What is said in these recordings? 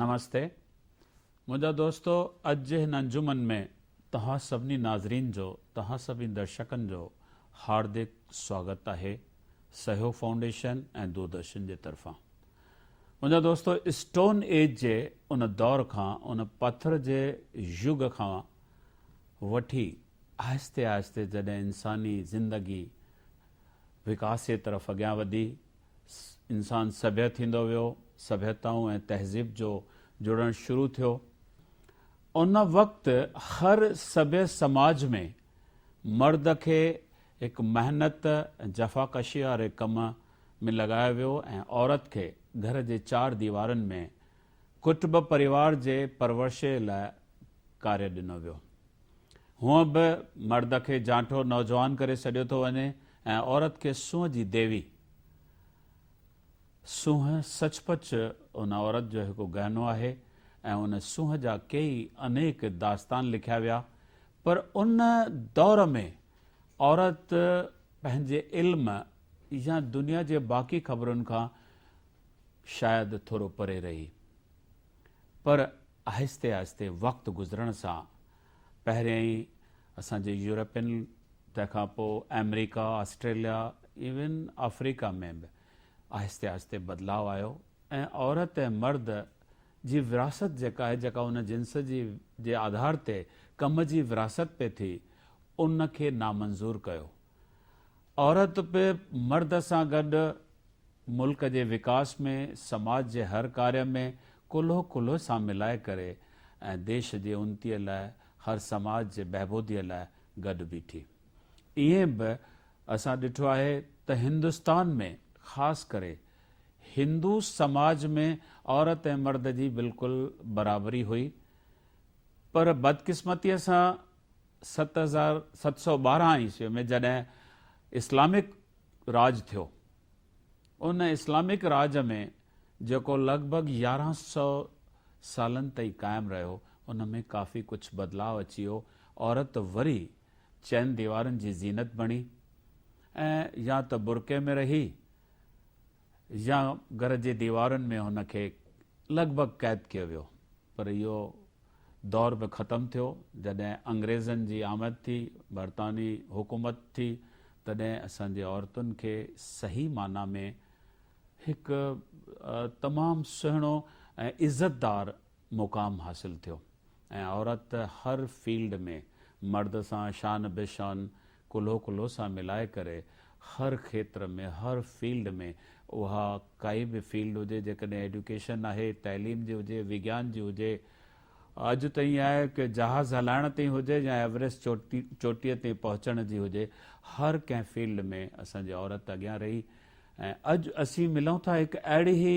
نمستي منهنجا دوستو اڄ جي هن انجمن ۾ توهان سڀني ناظرين جو توهان سڀني درشڪن جو هاردڪ سواگت آهي سهيو فائونڊيشن ۽ دوردرشن جي طرفان منهنجا دوستو اسٽون ايج جي ان دور کان ان پٿر جي يگ کان وٺي آهستي آهستي جڏهن انساني زندگي وڪاس جي طرف اڳيان وڌي انسان سڀيت ٿيندو ويو، سڀيتائون ۽ تهذيب جو جڙڻ شروع ٿيو. ان وقت هر سڀيء سماج ۾ مرد کي هڪ محنت ۽ جفاڪشيء واري ڪم ۾ لڳايو ويو ۽ عورت کي گهر جي چار ديوارن ۾ ڪٽبه پريوار جي پرورشي لاء ڪاري ڏنو ويو. هونء به مرد کي جانٺو نوجوان ڪري سڏيو ٿو وڃي ۽ عورت کي سونهن جي ديوي. سونهن سچ پچ ان عورت جو هڪ گهنو آهي ۽ ان سونهن جا ڪيئي انيڪ داستان لکيا ويا پر ان دور ۾ عورت پنهنجي علم يا دنيا جي باقي خبرن کان شايد ٿورو پري رهي، پر آهستي آهستي وقت گذرڻ سان پهريائين اسان جي يورپين تنهن کان پوء آمريڪا، آسٽريليا ايون آفريڪا ۾ به آهستي آهستي بدلاء آيو ۽ عورت ۽ مرد جي وراثت جيڪا آهي جيڪا ان جنس جي جي آڌار تي ڪم جي وراثت پئي ٿي ان کي نامنظور ڪيو عورت به مرد سان گڏ ملڪ جي وڪاس ۾ سماج جي هر ڪاري ۾ ڪلهو ڪلهو سان ملائي ڪري ۽ ديش جي انتي لاء هر سماج جي بهبودي لاء گڏ بيٺي. ائين به اسان ڏٺو آهي ته هندستان ۾ خاص ڪري هندو سماج ۾ عورت ۽ مرد جي بلڪل برابري هئي پر بدقسمتي سان ست هزار ست سؤ ٻارهن عيسوي ۾ جڏهن اسلامڪ راڄ ٿيو، ان اسلامڪ راڄ ۾ جيڪو لڳ ڀڳ يارهن سؤ سالن تائين قائم رهيو، ان ۾ ڪافي ڪجهه بدلاء اچي ويو، عورت وري چئن ديوارن جي زينت بڻي ۽ يا ته برقعي ۾ رهي يا گهر جي ديوارن ۾ هن کي لڳ ڀڳ قيد ڪيو ويو پر اهو دور به ختم ٿيو، جڏهن انگريزن جي آمد ٿي، برطانوي حڪومت ٿي، تڏهن اسان جي عورتن کي صحيح معنيٰ ۾ هڪ تمام سهڻو ۽ عزت دار مقام حاصل ٿيو ۽ عورت هر فيلڊ ۾ مرد سان شان به شان ڪلهو ڪلهو سان ملائي ڪري هر کيتر ۾ هر فيلڊ ۾ اها ڪائي به فيلڊ هجي جيڪڏهن ايڊيوڪيشن آهي تعليم جي هجي وگيان جي هجي اڄ ته ائين آهي ڪي جهاز هلائڻ تائين هجي يا ايوريسٽ چوٽي چوٽيء تائين پهچڻ جي هجي هر ڪنهن فيلڊ ۾ اسان جي عورت اڳيان رهي ۽ اڄ اسين ملون ٿا هڪ اهڙي هي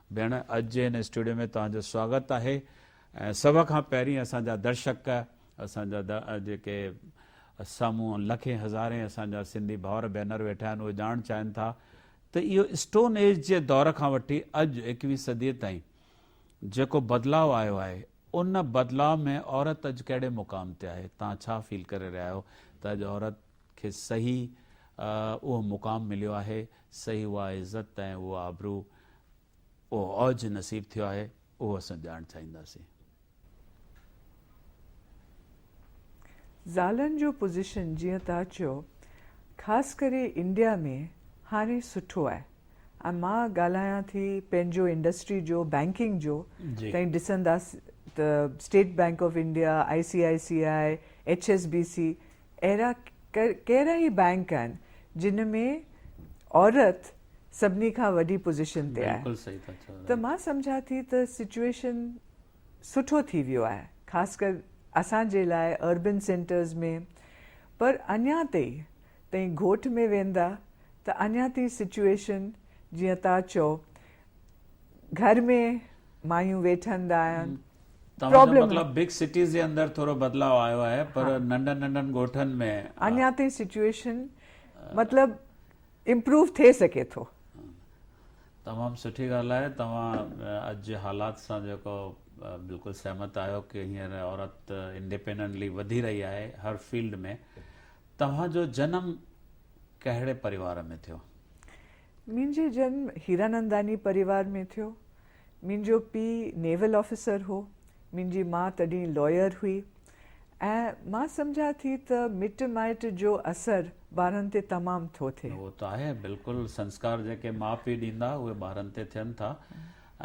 ڀيڻ اڄ جي هن اسٽوڊيو ۾ توهان جو سواگت آهي ۽ سڀ کان پهرين اسان جا درشڪ اسان جا جيڪي سامهون لکين هزارين اسان جا سنڌي ڀائر ڀينر ويٺا آهن اهي ڄاڻڻ چاهين ٿا ته اهو اسٽون ايج جي دور کان وٺي اڄ ايڪويهه صدي تائين جيڪو بدلاء آيو آهي ان بدلاء ۾ عورت اڄ ڪهڙي مقام تي آهي توهان ڇا فيل ڪري رهيا آهيو ته اڄ عورت کي صحيح اهو مقام مليو آهي سهي اها عزت ۽ اهو آبرو، اهو اوج نصيب ٿيو آهي، اهو اسان ڏيارڻ چاهينداسين. زالن جو پوزيشن جيئن توهان چيو خاص ڪري انڊيا ۾ هاڻي سٺو آهي ۽ مان ڳالهايان ٿي پنهنجو انڊسٽري جو بئنڪنگ جو تئين ڏسنداس ته State Bank of India, I C I C I, H S B C اهڙا ڪيرا ئي بئنڪ آهن جن ۾ عورت سڀني کان وڏي پوزيشن تي آهي ته مان سمجهان ٿي ته سچوئيشن سٺو ٿي ويو آهي خاص ڪر اسان جي لاء اربن سينٽرز ۾ پر اڃان تي تئين گهوٽ ۾ ويندا ته اڃان تي سچوئيشن جيئن تان چئو گهر ۾ مايون ويٺن ڏاهن. توهان جو مطلب بگ سٽيز جي اندر ٿورو بدلاء آيو آهي پر ننڍن ننڍن ڳوٺن ۾ اڃا تائين سچوئيشن مطلب امپروو ٿي سگهي ٿو. تمام سٺي ڳالهه آهي توهان اڄ جي حالات سان جيڪو بلڪل سهمت آهيو ڪي هينئر عورت انڊيپينڊنٽلي وڌي رهي آهي هر فيلڊ ۾ توهان جو جنم ڪهڙي پريوار ۾ ٿيو؟ منهنجو جنم هيراننداني پريوار ۾ ٿيو. منهنجو پيء نيول آفيسر هو. منهنجي ماء تڏهن لويئر هئي ۽ مان سمجهان ٿي ته مٽ مائٽ جو اثر ٻارن تي تمام ٿو ٿئي. اهو ته آهي بلڪل سنسڪار جيڪي ماء پيء ڏيندا اهي ٻارن تي ٿين ٿا.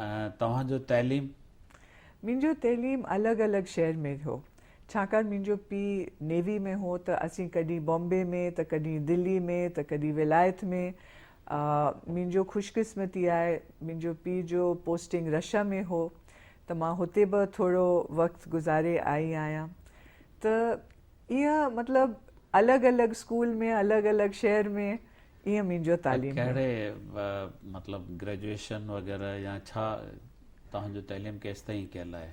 ۽ توهان جو تعليم؟ منهنجو تعليم الڳ الڳ شهر ۾ هو. ڇاڪاڻ منهنجو پيء نيوي ۾ هو ته اسين ڪڏهن بامبي ۾ ته ڪڏهن دلي ۾ ته ڪڏهن ولايت ۾. منهنجو خوش قسمتي آهي منهنجو پيء جو پوسٽنگ رشا ۾ هو ته مان هتي به ٿورو وقت گذاري آئي آهيان ته ايئن مطلب الڳ الڳ اسڪول ۾ الڳ الڳ شهر ۾ ايئن منهنجو تعليم ويو. ڪهڙي مطلب گريجوئيشن وغيره يا ڇا توهان جو تعليم ڪيستائين ڪيل آهي؟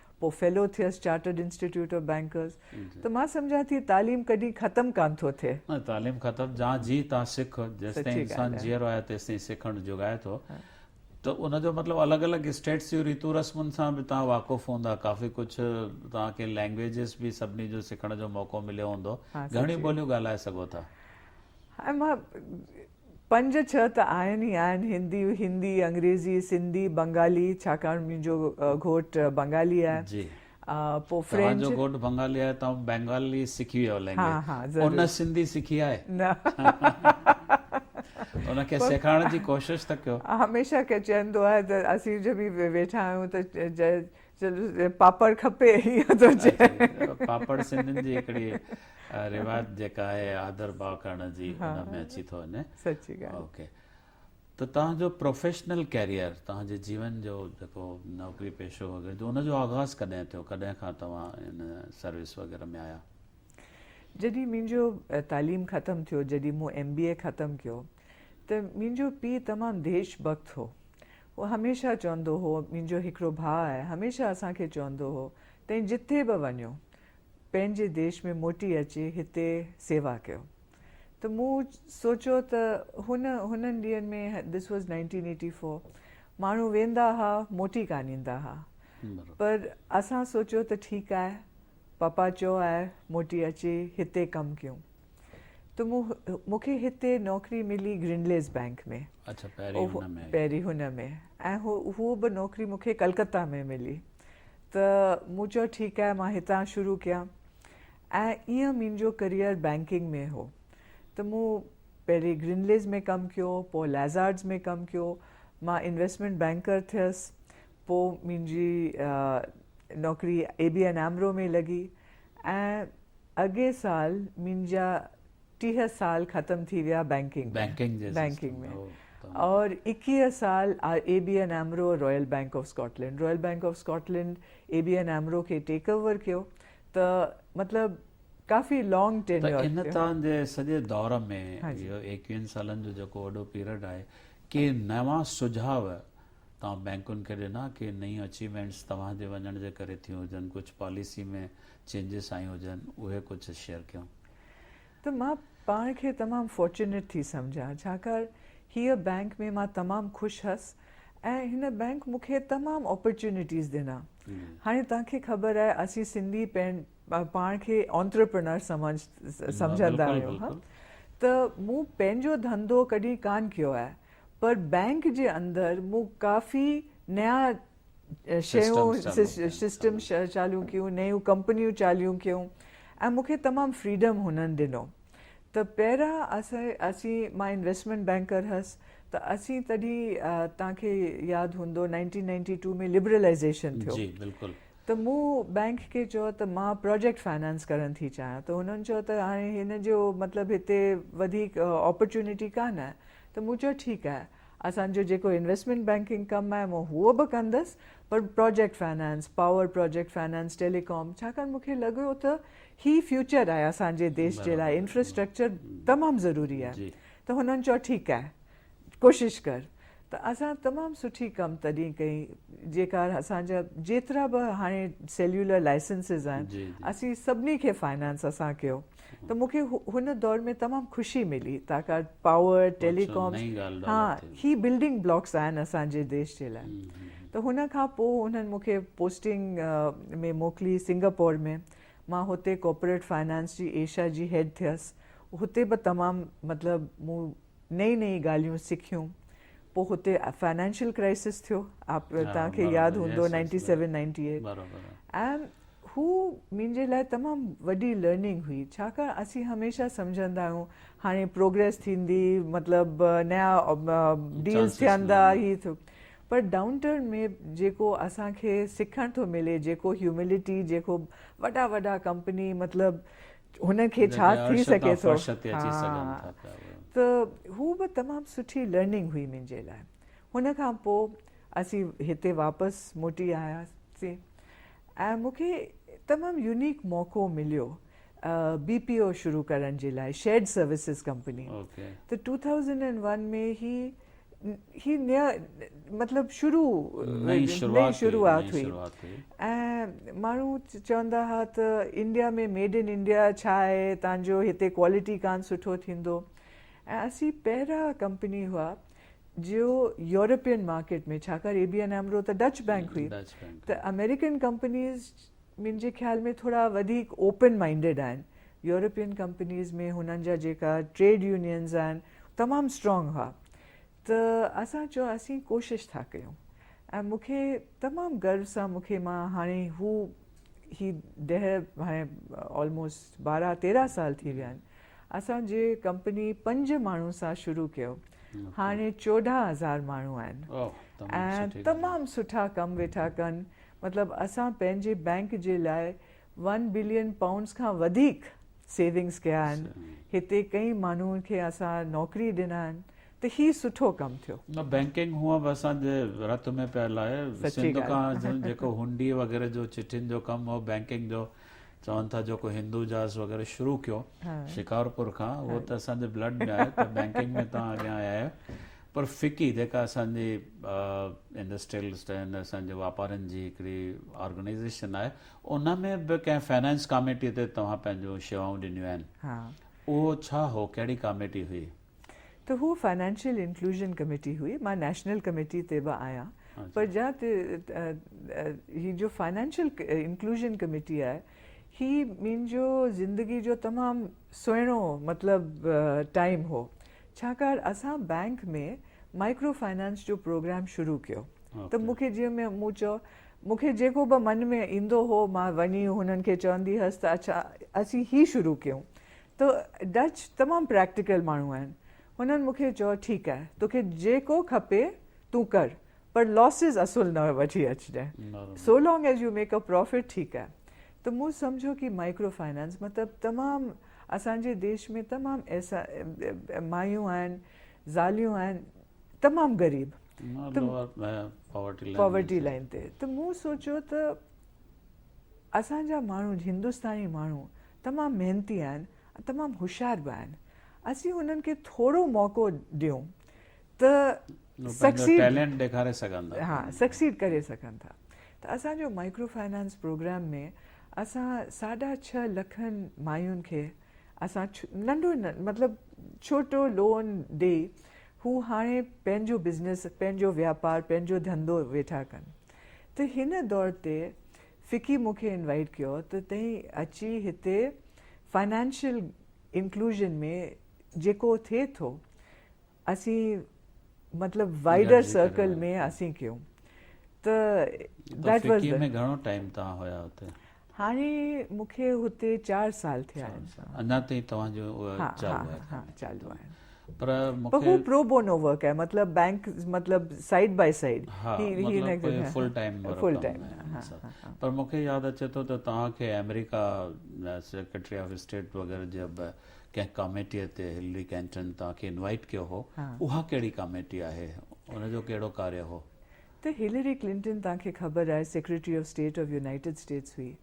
پوء فيلو ٿيس چارٽرڊ انسٽيٽيوٽ آف بئنڪرز ته مان سمجهان ٿي تعليم ڪڏهن ختم ڪانه ٿو ٿئي. نه تعليم ختم جان جي تان سک جيستائين سچي انسان ڳالهه آهي. جيئرو آهي تيستائين سکڻ جوڳ آهي ٿو ته ان جو مطلب الڳ الڳ اسٽيٽس جون ريتون رسمن سان به توهان واقف هوندا ڪافي ڪجهه توهان کي لئنگويجز به سڀني جو سکڻ جو موقعو مليو هوندو ها گهڻيون سچي ٻوليون ڳالهائي سگهو ٿا. هاڻ مان پنج ڇهه ته آهن ئي آهن، هندي، هندي، انگريزي، سنڌي، بنگالي، ڇاڪاڻ منهنجو گهوٽ بنگالي آهي، جي پوء فرينچ. توهان جو گهوٽ بنگالي آهي، توهان بنگالي سکي ويا لينگويج. ها ها ضرور. ان سنڌي سکي آهي؟ نه. ان کي سيکارڻ جي ڪوشش ته ڪيو. هميشه ڪي چوندو آهي ته اسين جو به ويٺا آهيون ته چيو پاپڙ کپي ايئن ٿو چئي. پاپڙ سنڌين جي هڪڙي روايت جيڪا آهي آڌر ڀاء ڪرڻ جي ان ۾ اچي ٿو وڃي. سچي ڳالهه. اوڪي ته توهان جو پروفيشنل ڪيريئر توهان جي جيون جو جيڪو نوڪري پيشو وغيره جو ان جو آغاز ڪڏهن ٿيو ڪڏهن کان توهان ان سروس وغيره ۾ آيا. جڏهن منهنجو تعليم ختم ٿيو جڏهن مون ايم بي اي ختم ڪيو ته منهنجو پيء تمام ديش ڀڪت هو. هو هميشه چوندو هو، منهنجو هڪڙو ڀاء آهي، هميشه اسان کي چوندو هو، تين جتي به وڃو، پنهنجي ديش ۾ موٽي اچي هتي سيوا ڪيو. ته مون سوچيو ته هن هنن ڏينهن ۾، This was Nineteen Eighty Four، ماڻهو ويندا ها، موٽي ڪانه ايندا ها. پر اسان سوچيو ته ٺيڪ آهي، پاپا چيو آهي، موٽي اچي هتي ڪم ڪيون. ته مون مون کي هتي نوڪري ملي گرنليز بئنڪ ۾ اڇا پهرين هن ۾ پهرين هن ۾ ۽ هو هو به نوڪري مون کي ڪلڪتا ۾ ملي ته مون چيو ٺيڪ آهي مان هتان شروع ڪيان ۽ ايئن منهنجو ڪريئر بئنڪنگ ۾ هو ته مون پهرين گرنليز ۾ ڪم ڪيو پوء لئزارڊز ۾ ڪم ڪيو مان انويسٽمينٽ بئنڪر ٿيس پوء منهنجي نوڪري اي بي اين ايمرو ۾ لڳي ۽ اڳئين سال منهنجا ٽيهه سال ختم ٿي ويا بئنڪنگ ۾ بئنڪنگ جي سسٽم ۾ هو تمام اور ايڪيهه سال اي بي اين ايمرو اور Royal Bank of Scotland Royal Bank of Scotland A B N AMRO کي ٽيڪ اوور ڪيو ته مطلب ڪافي لانگ ته ٽينيور ان ٿيو تان جي سڄي دور ۾ اهو ايڪيهن سالن جو جيڪو وڏو پيرڊ آهي ڪي نوان سجهاء توهان بئنڪن کي ڏنا ڪي نيون اچيومينٽس توهان جي وڃڻ جي ڪري ٿيون هجن ڪجهه پاليسي ۾ چينجز آيون هجن اهي ڪجهه شيئر ڪيون. ته مان پاڻ کي تمام فارچونيٽ ٿي سمجهان ڇاڪار هيء بئنڪ ۾ مان تمام خوش هئس ۽ هن بئنڪ مون کي تمام اپرچونيٽيز ڏنا هاڻي توهان کي خبر آهي اسين سنڌي پنهن پاڻ کي Entrepreneur سمجھ سمجھندا آهيون ها ته مون پنهنجو ڌنڌو ڪڏهن ڪانه ڪيو آهي پر بئنڪ جي اندر مون ڪافي نيا شيون System چاليون ڪيون نيون ڪمپنيون چاليون ڪيون ۽ مون کي تمام Freedom هنن ڏنو ته پهريان اسين اسين مان Investment Banker هيس ته اسين تڏهن توهان کي ياد هوندو Nineteen Ninety Two ۾ Liberalization ٿيو جي بلڪل ته مون بئنڪ کي چيو ته مان پراجيڪٽ فنانس ڪرڻ ٿي چاهيان ته هنن چيو ته هاڻي هن جو مطلب هتي وڌيڪ آپرچونٽي ڪانه آهي ته مون چيو ٺيڪ آهي اسان جو جيڪو انويسٽمينٽ بئنڪنگ ڪم آهي مون هو به ڪندس پر project finance power project finance telecom ڇاڪاڻ مون کي لڳيو ته هي فيوچر آهي اسان جي ديش جي لاء انفراسٽرڪچر تمام ضروري آهي ته هنن چيو ٺيڪ آهي. ڪوشش ڪر ته اسان تمام سٺي ڪم تڏهن ڪئي جيڪا اسان جا جيترا به هاڻي سيليولر لائسنسز آهن اسين سڀني کي فائنانس اسان ڪيو ته مون کي هن دور ۾ تمام خوشي ملي تاڪار پاور ٽيلي ڪام ها هي بلڊنگ بلاڪس آهن اسان جي ديش جي لاء ته هن کان پوء انهن مون کي پوسٽنگ ۾ موڪلي سنگاپور ۾ مان هتي ڪارپوريٽ فائنانس جي ايشيا جي هيڊ ٿيس هتي به تمام مطلب مون نئين نئين ڳالهيون سکيون پوء هتي فنانشل ڪرائسس ٿيو آپ توهان کي ياد هوندو نائنٽي سيون نائنٽي ايٽ ۽ هو منهنجي لاء تمام وڏي لرننگ هئي ڇاڪاڻ اسين هميشه سمجهندا آهيون هاڻي پروگريس ٿيندي مطلب نيا ڊيلز ٿيندا هي ٿيو پر ڊائون ٽرن ۾ جيڪو اسان کي سکڻ ٿو ملي جيڪو هيوملٽي جيڪو وڏا وڏا ڪمپني مطلب هنن کي ڇا ٿي سگهي ٿو ته هو به تمام سٺي لرننگ هئي منهنجي لاء هن کان پوء اسين هتي واپس موٽي آياسين ۽ مون کي تمام يونيڪ موقعو مليو بي پي او شروع ڪرڻ جي لاء شيڊ سروسز ڪمپني ته ٽو ٿائوزنڊ اينڊ ون ۾ هي هي نيا مطلب شروع نئين شروعات شروعات هئي ۽ ماڻهو چوندا ها ته انڊيا ۾ ميڊ ان انڊيا ڇا آهي تانجو هتي ڪوالٽي ڪان سٺو ٿيندو ۽ اسين پهرا ڪمپني هئا جو يورپين مارڪيٽ ۾ ڇاڪاڻ اي بي اين امرو ته ڊچ بئنڪ هئي ته امريڪن ڪمپنيز منهنجي خيال ۾ ٿورا وڌيڪ اوپن مائنڊيڊ آهن. يورپين ڪمپنيز ۾ هنن جا جيڪا ٽريڊ يونينز آهن تمام اسٽرانگ هئا ته اسان چيو اسين ڪوشش ٿا ڪيون ۽ مون کي تمام گرو سان مون کي مان هاڻي هو هي ڏهه هاڻي آلموسٽ بارهن تيرهن سال ٿي ويا آهن اسان جي ڪمپني پنج ماڻهو سان شروع ڪيو هاڻي چوڏهن هزار ماڻهو آهن ۽ تمام سٺا ڪم ويٺا ڪن مطلب اسان پنهنجي بئنڪ جي لاء ون بلين پائونڊز کان وڌيڪ سيونگز ڪيا آهن هتي ڪئين ماڻهون کي اسان نوڪري ڏنا آهن ته هي سٺو ڪم ٿيو. نه بئنڪنگ هونء به اسان جي رت ۾ پيل آهي سچي سنڌ ڳالهه. کان جيڪو هنڊي وغيره جو چٺين جو ڪم هو بئنڪنگ جو چون ٿا جيڪو هندو جاز وغيره شروع ڪيو شڪارپور کان اهو ته اسان جي بلڊ ۾ آهي ته بينڪنگ ۾ توهان اڳيان آيا آهيو پر فڪي جيڪا اسان جي انڊسٽريلسٽ آهن اسان جي واپارين جي هڪڙي آرگنائزيشن آهي ان ۾ به ڪنهن فنانس ڪاميٽي تي توهان پنهنجون شيوائون ڏنيون آهن اهو ڇا هو ڪهڙي ڪاميٽي هئي ته هوء فنانشل انڪلوزن ڪميٽي هئي، مان نيشنل ڪميٽي تي به آهيان پر جا ته هي جو فنانشل انڪلوزن ڪميٽي آهي هي منهنجو زندگي جو تمام سهڻو مطلب ٽائيم هو ڇاڪاڻ اسان بئنڪ ۾ مائيڪرو فنانس جو پروگرام شروع ڪيو ته مون کي جيئن مون چئو مون کي جيڪو به من ۾ ايندو هو مان وڃي هنن کي چوندي هيس ته اڇا اسين هي شروع ڪيون ته ڊچ تمام پريڪٽيڪل ماڻهو آهن، هنن مون کي چيو ٺيڪ آهي توکي جيڪو کپي تون ڪر پر لاسز اصل نه وٺي اچجانء so long as you make a profit ٺيڪ آهي ته مون سمجهيو ڪي مائيڪرو فائنانس مطلب تمام اسان جي ديش ۾ تمام ايسا مايون آهن زاليون آهن تمام غريب پاورٽي لائين تي ته مون سوچيو ته اسان جا ماڻهو هندستاني ماڻهو تمام محنتي آهن ۽ تمام هوشيار به آهن اسين انهن کي ٿورو موقعو ڏيون ته سڪسيڊ ڏيکاري سگهن ٿا ها سڪسيڊ ڪري سگهن ٿا ته اسان جو مائڪرو فائنانس پروگرام ۾ اسان ساڍا ڇهه لکن مايون کي اسان ننڍو مطلب ڇوٽو لون ڏئي هو هاڻي پنهنجو بزنس پنهنجو واپار پنهنجو ڌنڌو ويٺا ڪن ته هن دور تي فڪي مون کي انوائيٽ ڪيو ته تين اچي هتي فنانشل انڪلوزن ۾ جيڪو ٿئي ٿو اسين مطلب وائيڊر سرڪل ۾ اسين ڪيون ته ڊيٽ واز فڪي ۾ گهڻو ٽائيم تان هيا هتي؟ هاڻي مون کي هتي چار سال ٿيا آهن. اڃا تائين توهان جو چالو آهي. پر مونکي پر هو پرو بونو ورڪ آهي مطلب بينڪ مطلب سائيڊ باء سائيڊ ها مطلب فل ٽائيم ورڪ پر مونکي ياد اچي ٿو ته توهان کي آمريڪا سيڪريٽري آف اسٽيٽ وغيره جي به ڪنهن ڪاميٽي تي هلري ڪينٽن توهان کي انوائيٽ ڪيو هو اها ڪهڙي ڪاميٽي آهي ان جو ڪهڙو ڪاري هو ته هلري ڪلنٽن توهان کي خبر آهي secretary of state of United States هئي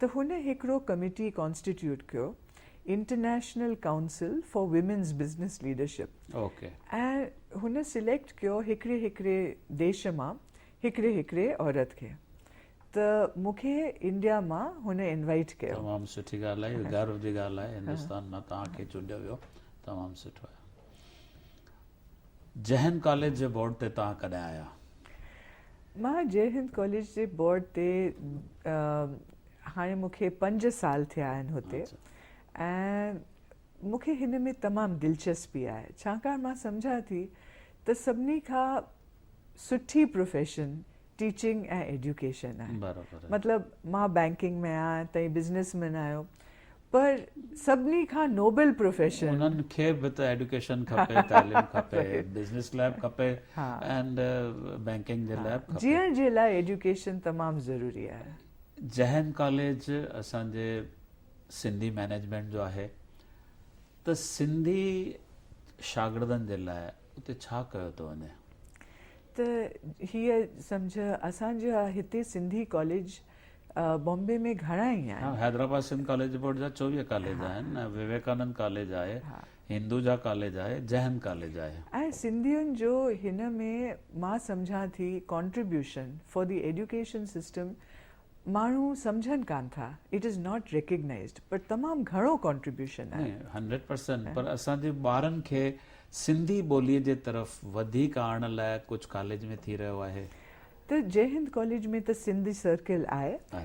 ته هن هڪڙو ڪميٽي ڪانسٽيٽيوٽ ڪيو international council for women's business leadership ۽ هن سليڪٽ ڪيو هڪڙي هڪڙي ديش مان هڪڙي هڪڙي عورت کي ته مون کي انڊيا مان هن انوائيٽ ڪيو. تمام سٺي ڳالهه آهي غرو جي ڳالهه آهي هندستان مان توهان کي چونڊيو ويو تمام سٺو آهي. جئه هند ڪاليج جي بورڊ تي توهان ڪڏهن آيا؟ مان جئه هند ڪاليج جي بورڊ تي هاڻي مون کي پنج سال ٿيا آهن هتي ۽ مون کي هن ۾ تمام دلچسپي آهي ڇاڪاڻ مان سمجهان ٿي ته سڀني کان سٺي پروفيشن ٽيچنگ ۽ ايڊيوڪيشن آهي مطلب مان بئنڪنگ ۾ آهيان تهين بزنيس مين آهيو پر سڀني کان نوبل پروفيشن. انهن کي به ته ايڊوڪيشن کپي، تعليم کپي، بزنس لاء به کپي ۽ بينڪنگ جي لاء به کپي. جيئڻ جي لاء ايڊوڪيشن تمام ضروري آهي. جهين ڪاليج اسان جي سنڌي مئنيجمينٽ جو آهي ته سنڌي شاگردن جي لاء اتي ڇا ڪيو ٿو وڃي؟ ته هيء سمجهه اسان جا هتي سنڌي ڪاليج. بامبي ۾ گهڻا ئي آهن. حيدرآباد سنڌ ڪاليج بورڊ جا چوويهه ڪاليج آهن. وويڪانند ڪاليج آهي. هندوجا ڪاليج آهي. جهن ڪاليج آهي. ۽ سنڌين جو هن ۾ مان سمجهان ٿي contribution for the education system ماڻهو سمجهن ڪانه ٿا it is not recognised but تمام گهڻو ڪانٽريبيوشن آهي. نه هنڊريڊ پرسنٽ پر اسان جي ٻارن کي سنڌي ٻولي جي طرف وڌيڪ آڻڻ لاء ڪجهه ڪاليج ۾ ٿي رهيو آهي. ته جئي هند ڪاليج ۾ ته سنڌي سرڪل آهي ۽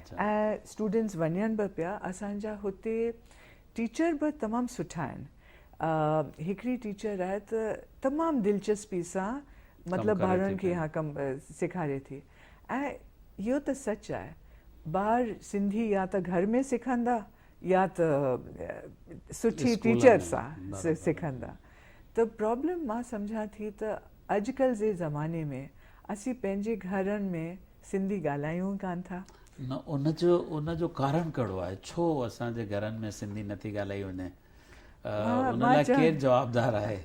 اسٽوڊنٽس وڃن به پيا اسان جا هتي ٽيچر به تمام سٺا آهن هڪڙي ٽيچر آهي ته تمام دلچسپي سان مطلب ٻارڙن کي اها ڪم سيکاري ٿي ۽ اهو ته سچ آهي ٻار سنڌي يا ته گهر ۾ سکندا يا ته سٺي ٽيچر سان سکندا ته پرابلم مان سمجهان ٿي ته اڄڪلهه جي زماني ۾ اسين پنهنجي گهرن ۾ سنڌي ڳالهايون ڪانه ٿا. نه ان جو ان جو ڪارڻ ڪهڙو آهي ڇو اسان جي گهرن ۾ سنڌي نٿي ڳالهائي وڃي ان لاء ڪير جوابدار آهي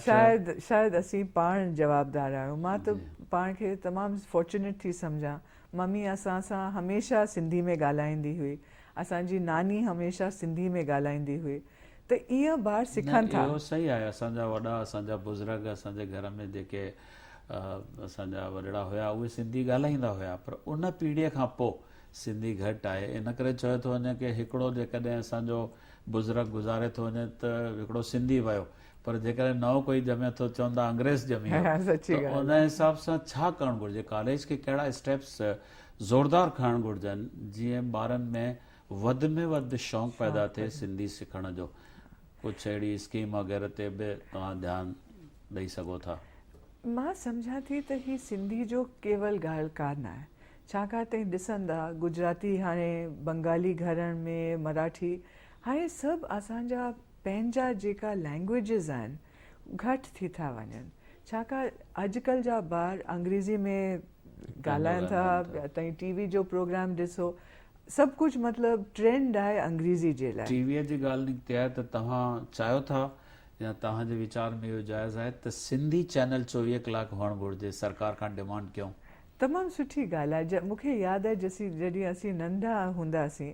شايد شايد اسين پاڻ جوابدار آهيون مان ته پاڻ کي تمام فارچونيٽ ٿي سمجهان ممي اسان سان هميشه سنڌي ۾ ڳالهائيندي هئي. اسان جي ناني هميشه سنڌي ۾ ڳالهائيندي هئي ته ايئن ٻار نه سکن ٿا. اهو صحيح آهي اسان جا وڏا اسان جا بزرگ اسان جي گهر ۾ جيڪي اسان جا وڏڙا هيا اهي سنڌي ڳالهائيندا هيا پر ان پيڙهي کان پو سنڌي گهٽ آهي ان ڪري چيو ٿو وڃي ڪي هڪڙو جيڪڏهن اسان جو بزرگ گذاري ٿو وڃي ته هڪڙو سنڌي ويو پر جيڪڏهن نئون ڪوئي ڄمي ٿو چوندا انگريز ڄمي ويو ته ان حساب سان ڇا ڪرڻ گهرجي ڪاليج کي ڪهڙا اسٽيپس زوردار کڻڻ گهرجن جيئن ٻارن ۾ وڌ ۾ وڌ شونق پيدا ٿئي سنڌي سکڻ جو ڪجهه اهڙي اسڪيم وغيره تي به توهان ڌيان ڏئي سگهو ٿا مان سمجهان ٿي ته هي سنڌي جو ڪيول ڳالهه ڪا نه آهي ڇاڪاڻ ته ڏسندا گجراتي هاڻي بنگالي گهرن ۾ مراٺي هاڻي سڀ اسان جا پنهنجا جيڪا لينگويجز آهن گهٽ ٿي ٿا وڃن ڇاڪاڻ اڄڪلهه جا ٻار انگريزي ۾ ڳالهائن ٿا تائين ٽي وي جو پروگرام ڏسو سڀ ڪجهه مطلب ٽرينڊ آهي انگريزي جي لاء. ٽي وي جي ڳالهه نڪتي آهي ته توهان چاهيو ٿا يا توهان جي ويچار ۾ اهو جائز آهي ته سنڌي چينل چوويهه ڪلاڪ هئڻ گهرجي سرڪار کان ڊمانڊ ڪيون. تمام سٺي ڳالهه آهي مونکي ياد آهي جسي جڏهن اسين ننڍا هونداسين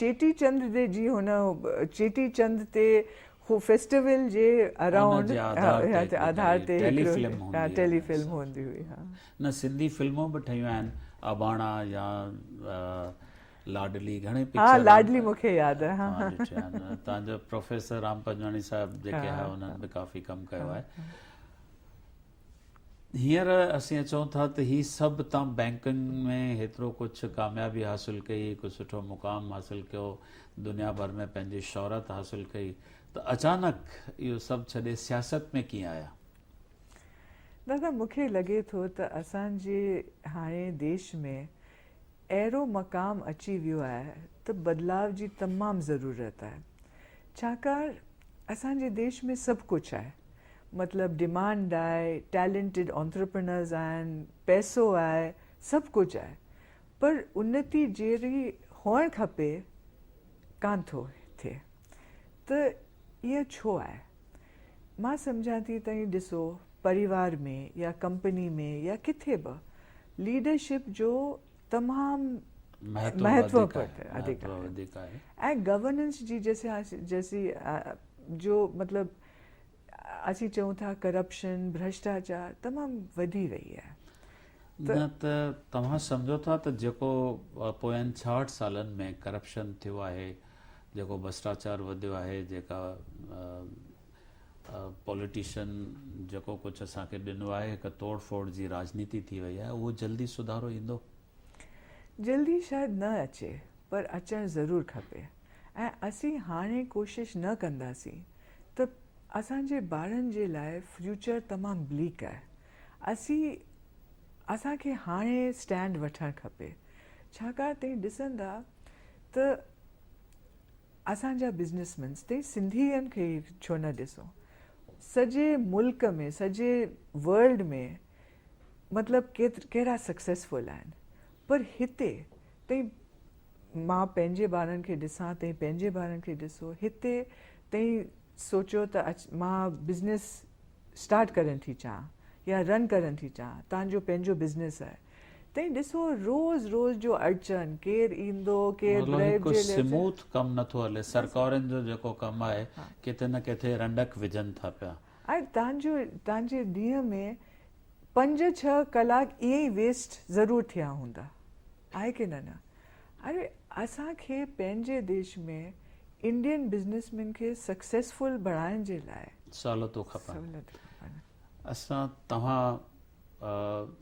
چيٽي چند تي جي هن چيٽي چند تي هو فيسٽيول جي اراونڊ هتي آڌار تي ٽيلي فلم هوندي هئي ٽيلي فلم هوندي هئي ها نه سنڌي فلمون به ٺهيون آهن اباڻا يا لاڏلي گهڻي پڪچر ها لاڏلي مونکي ياد آهي ها ها تان جو پروفيسر رام پنجواڻي صاحب جيڪي ها انهن به ڪافي ڪم ڪيو آهي هينئر اسين چئون ٿا ته هي سڀ تان بئنڪنگ ۾ هيترو ڪجهه ڪاميابي حاصل ڪئي، هڪ سٺو مقام حاصل ڪيو، دنيا ڀر ۾ پنهنجي شهرت حاصل ڪئي ته اچانڪ اهو سڀ ڇڏي سياست ۾ ڪيئن آيا؟ دادا مون کي لڳي ٿو ته اسان جي هاڻي ديش ۾ اهڙو مقام اچي ويو آهي ته بدلاء جي تمام ضرورت آهي ڇاڪاڻ اسان جي ديش ۾ سڀ ڪجهه آهي مطلب ڊمانڊ آهي ٽيلنٽيڊ انترپرنرز آهن پئسو آهي سڀ ڪجهه آهي پر انتي جهڙي هئڻ کپي ڪانه ٿو ٿئي ته ايئن ڇو آهي؟ مان سمجهان ٿي ته هي ڏسو پريوار ۾ يا ڪمپني ۾ يا ڪٿي به ليڊرشپ جو تمام مهتو وڌيڪ آهي ۽ گورننس جي جيسي جو مطلب اسين چئون ٿا ڪرپشن ڀرشٽاچار تمام وڌي وئي آهي نه ته توهان سمجهو ٿا ته جيڪو پوين ڇاهٺ سالن ۾ ڪرپشن ٿيو آهي جيڪو ڀرسٽاچار وڌيو آهي جيڪا پوليٽيشن جيڪو ڪجهه اسان کي ڏنو آهي هڪ توڙ ڦوڙ جي راجنيتي ٿي وئي آهي اهو جلدي سڌارو ايندو؟ جلدي شايد نه اچي پر اچڻ ضرور کپي ۽ اسين هاڻي ڪوشش نه ڪنداسين ته اسان جي ٻارن جي لاء فيوچر تمام بليڪ آهي اسين اسان کي هاڻي اسٽينڊ وٺڻ کپي ڇاڪاڻ تين ڏسندا ته اسان جا بزنس مينس تي سنڌين کي ڇو نه ڏسو سڄي ملڪ ۾ سڄي ورلڊ ۾ مطلب ڪهڙا سڪسيسفل آهن پر هتي تئين مان پنهنجي ٻارن کي ڏسان تئين پنهنجي ٻارن کي ڏسو هتي تئين سوچيو ته مان بزنس اسٽارٽ ڪرڻ ٿي چاهيان يا رن ڪرڻ ٿي چاهيان تانجو پنهنجو بزنس آهي تئين ڏسو روز روز جو اڙچن ڪير ايندو ڪير مطلب بريڊ هڪ جي ليٽ سموٿ ڪم نٿو هلي سرڪارين جو جيڪو ڪم آهي ڪٿي نه ڪٿي رنڊڪ وجهن ٿا پيا. ۽ تنهنجو تنهنجي ڏينهن ۾ پنج ڇهه ڪلاڪ ائين ئي ويسٽ ضرور ٿيا هوندا آهي ڪي نه نه اري اسان کي پنهنجي ديش ۾ انڊين بزنيس مين کي سڪسيسفل بڻائن جي لاء سهولتون کپن سهولتون کپن. اسان توهان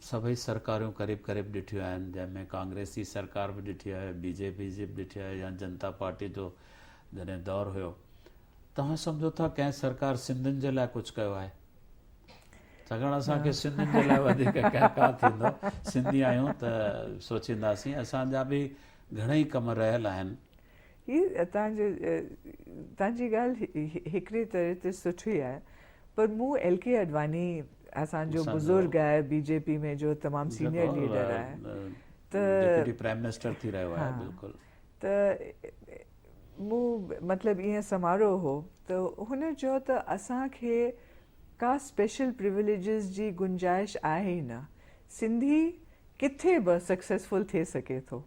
سڀئي سرڪاريون قريب قريب ڏٺيون آهن جنهن ۾ ڪانگريس جي سرڪار به ڏٺي آهي بي جي پي جي به ڏٺي آهي يا جنتا پارٽي جو جڏهن دور هيو توهان سمجهو ٿا ڪنهن سرڪار سنڌين جي لاء ڪجهه ڪيو آهي سگهڙ اسان کي سنڌين جي لاء وڌيڪ ڪنهن ڪا ٿيندو سنڌي آهيون ته سوچينداسين اسان جا به گهڻا ئي ڪم رهيل آهن هي تان جو تان جي ڳالهه هڪڙي طرح تي سٺي آهي پر مون ايل ڪي اڏواني اسان جو بزرگ آهي بي جي پي ۾ جو تمام سينئر ليڊر آهي ته ڊپٽي پرائم منسٽر ٿي رهيو آهي بلڪل ته مون مطلب ايئن سمارو هو ته هن چيو ته اسان کي ڪا اسپيشل پريوليجز جي گنجائش آهي ئي نه سنڌي ڪٿي به سڪسيسفل ٿي سگهي ٿو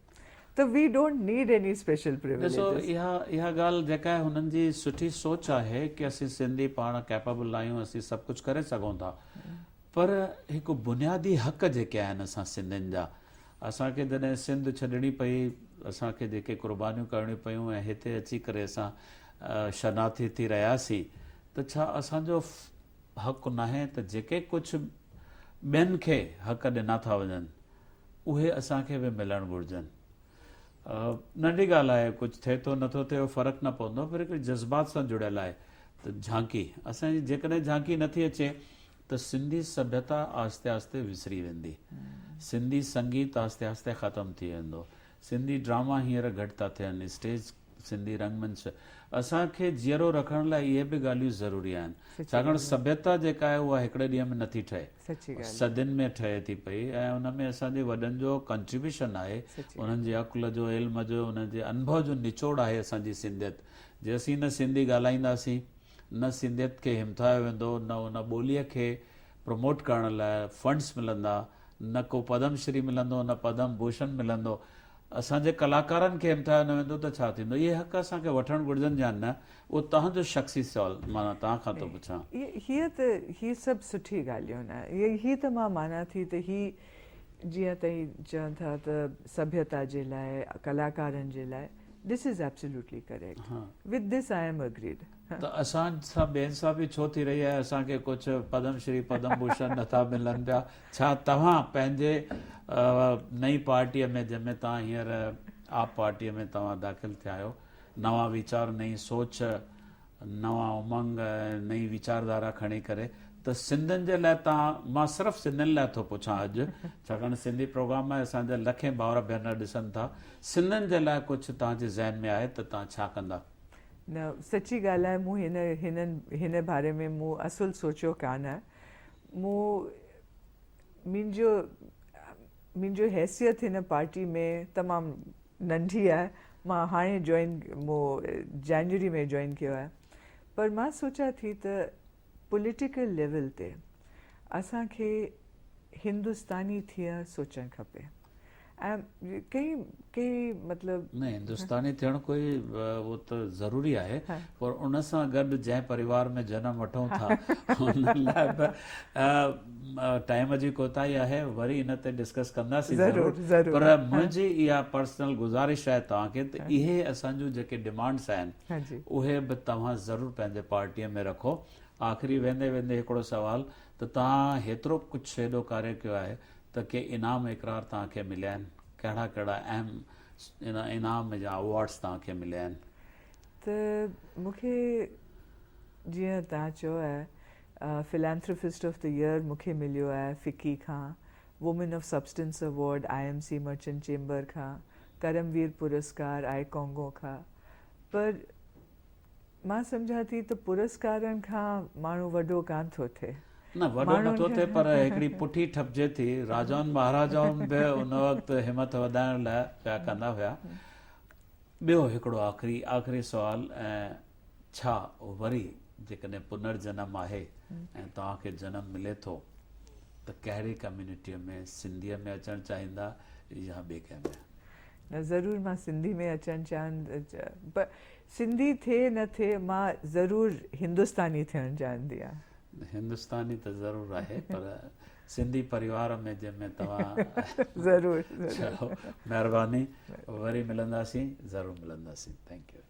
ته we don't need any special privileges. ڏسو اها اها ڳالهه جيڪا آهي هنن جي سٺي سوچ آهي ڪي اسين سنڌي پاڻ ڪيپبل آهيون اسين سڀ ڪجهه ڪري سگهون ٿا پر هڪ بنيادي حق جيڪي آهن اسان سنڌين جا اسان کي جڏهن سنڌ ڇڏڻي پئي اسان کي جيڪي قربانيون ڪرڻيون پيون ۽ هتي اچي ڪري اسان شرناٿي ٿي رهياسين ته ڇا اسان جو حق ناهي ته جيڪي ڪجهه ٻين کي حق ڏنا ٿا وڃن اهي اسان کي به ملڻ گهرجن. ننڍي ڳالهه آهي، ڪجهه ٿئي ٿو نه ٿو ٿئي اهو فرق نه پوندو پر هڪڙي جذبات سان جڙيل آهي ته جهانڪي اسان جي جيڪڏهن جهانڪي نه ٿي اچي ته سنڌي سڀيتا آهستي آهستي وسري ويندي. سنڌي سنگيت آهستي آهستي ختم ٿي ويندو. سنڌي ڊراما هينئر گهٽ ٿا ٿين، اسٽيج، سنڌي رنگ منچ اسان کي جيئرو رکڻ لاء اهي به ڳالهيون ضروري آهن، ڇاڪاڻ سڀيتا جيڪا آهي اها هڪڙي ڏينهن ۾ نٿي ٺهي، صدين ۾ ٺهي ٿي پئي ۽ ان ۾ اسان جي وڏن جو ڪنٽريبيوشن آهي، انهن جي عقل جو، علم جو، انهن جي انڀو جو نچوڙ آهي اسان جي سنڌيت، جيسين نه سنڌي ڳالهائينداسين. نه سنڌيت کي همٿايو ويندو، نه ان ٻوليء کي پروموٽ ڪرڻ لاء فنڊز ملندا، نه ڪو پدم شري ملندو، نه پدم ڀوشڻ ملندو. اسان جي ڪلاڪارن کي همٿايو نه ويندو ته ڇا ٿيندو؟ اهي حق اسان کي وٺڻ گهرجن يا نه؟ اهو توهان جو شخصي سوال معنيٰ توهان کان ٿو پڇان. هيء ته هي سڀ سٺي ڳالهيون نه. هي ته مان مانان ٿي ته هي جيئن توهين چئو ٿا ته سڀيتا جي لاء، ڪلاڪارن جي لاء، This is absolutely correct. With this I am agreed. ته اسان سان ٻين سان به ڇو ٿي رهي آهي اسان کي ڪجهه پدم شري پدم ڀوشن نٿا ملن پيا ڇا توهان پنهنجي نئين پارٽي ۾ جنهن ۾ توهان هينئر آپ پارٽي ۾ توهان داخل ٿيا آهيو نوان ويچار نئين سوچ نوان امنگ ۽ نئين ويچاردارا کڻي ڪري ته سنڌين جي لاء تان مان صرف سنڌين لاء ٿو پڇان اڄ ڇاڪاڻ سنڌي پروگرام ۾ اسان جا لکين ڀائر ڀينر ڏسن ٿا سنڌين جي لاء ڪجھ تان جي ذهن ۾ آهي ته تان ڇا ڪندا. نه سچي ڳالھ آهي مون هن هن هن باري ۾ مون اصل سوچيو ڪانه مون منهنجو منهنجو حيثيت هن پارٽي ۾ تمام ننڍي آهي مان هاڻي جوائن مون جنوري ۾ جوائن ڪيو آهي پر مان سوچان ٿي ته پوليٽيڪل ليول تي اسان کي هندستاني ٿيڻ سوچڻ کپي ۽ ڪئي ڪئي مطلب نه هندستاني ٿيڻ ڪوئي اهو ته ضروري آهي پر ان سان گڏ جنهن پريوار ۾ جنم وٺون ٿا ان لاء به ٽائيم جي ڪوتاهي آهي وري ان تي ڊسڪس ڪنداسين ضرور پر منهنجي اها پرسنل گذارش آهي توهان کي ته اهي اسان جون جيڪي ڊيمانڊس آهن اهي به توهان ضرور پنهنجي پارٽي ۾ رکو آخري ويندي ويندي هڪڙو سوال ته توهان هيترو ڪجهه هيڏو ڪاري ڪيو آهي ته ڪي انعام اقرار توهان کي مليا آهن ڪهڙا ڪهڙا اهم انعام يا اوارڊس توهان کي مليا آهن ته مونکي جيئن توهان چيو آهي فلانٿروفسٽ آف دي ايئر مون کي مليو آهي فڪي کان، women of substance award I M C merchant chamber کان، ڪرم وير پرسڪار آء ڪانگو کان پر مان سمجهان ٿي ته پرسڪارن کان ماڻهو وڏو ڪانه ٿو ٿئي. نه وڏو نه ٿو ٿئي پر هڪڙي پٺي ٺپجي ٿي، راجائن مهاراجائن به ان وقت همٿ وڌائڻ لاء پيا ڪندا هيا. ٻيو هڪڙو آخري آخري سوال ۽ ڇا وري جيڪڏهن پنر جنم آهي ۽ توهان کي جنم ملي ٿو ته ڪهڙي ڪميونٽيء ۾ سنڌيء ۾ اچڻ چاهيندا يا ٻي ڪنهن ۾؟ نه ضرور مان سنڌي ۾ اچڻ چاهن پر سنڌي ٿئي نه ٿئي مان ضرور هندستاني ٿيڻ چاهندي آهيان. هندستاني ته ضرور آهي پر سنڌي پريوار ۾ جنهن ۾ توهان ضرور ضرور مهرباني وري ملنداسين ضرور ملنداسين ٿينڪ يو.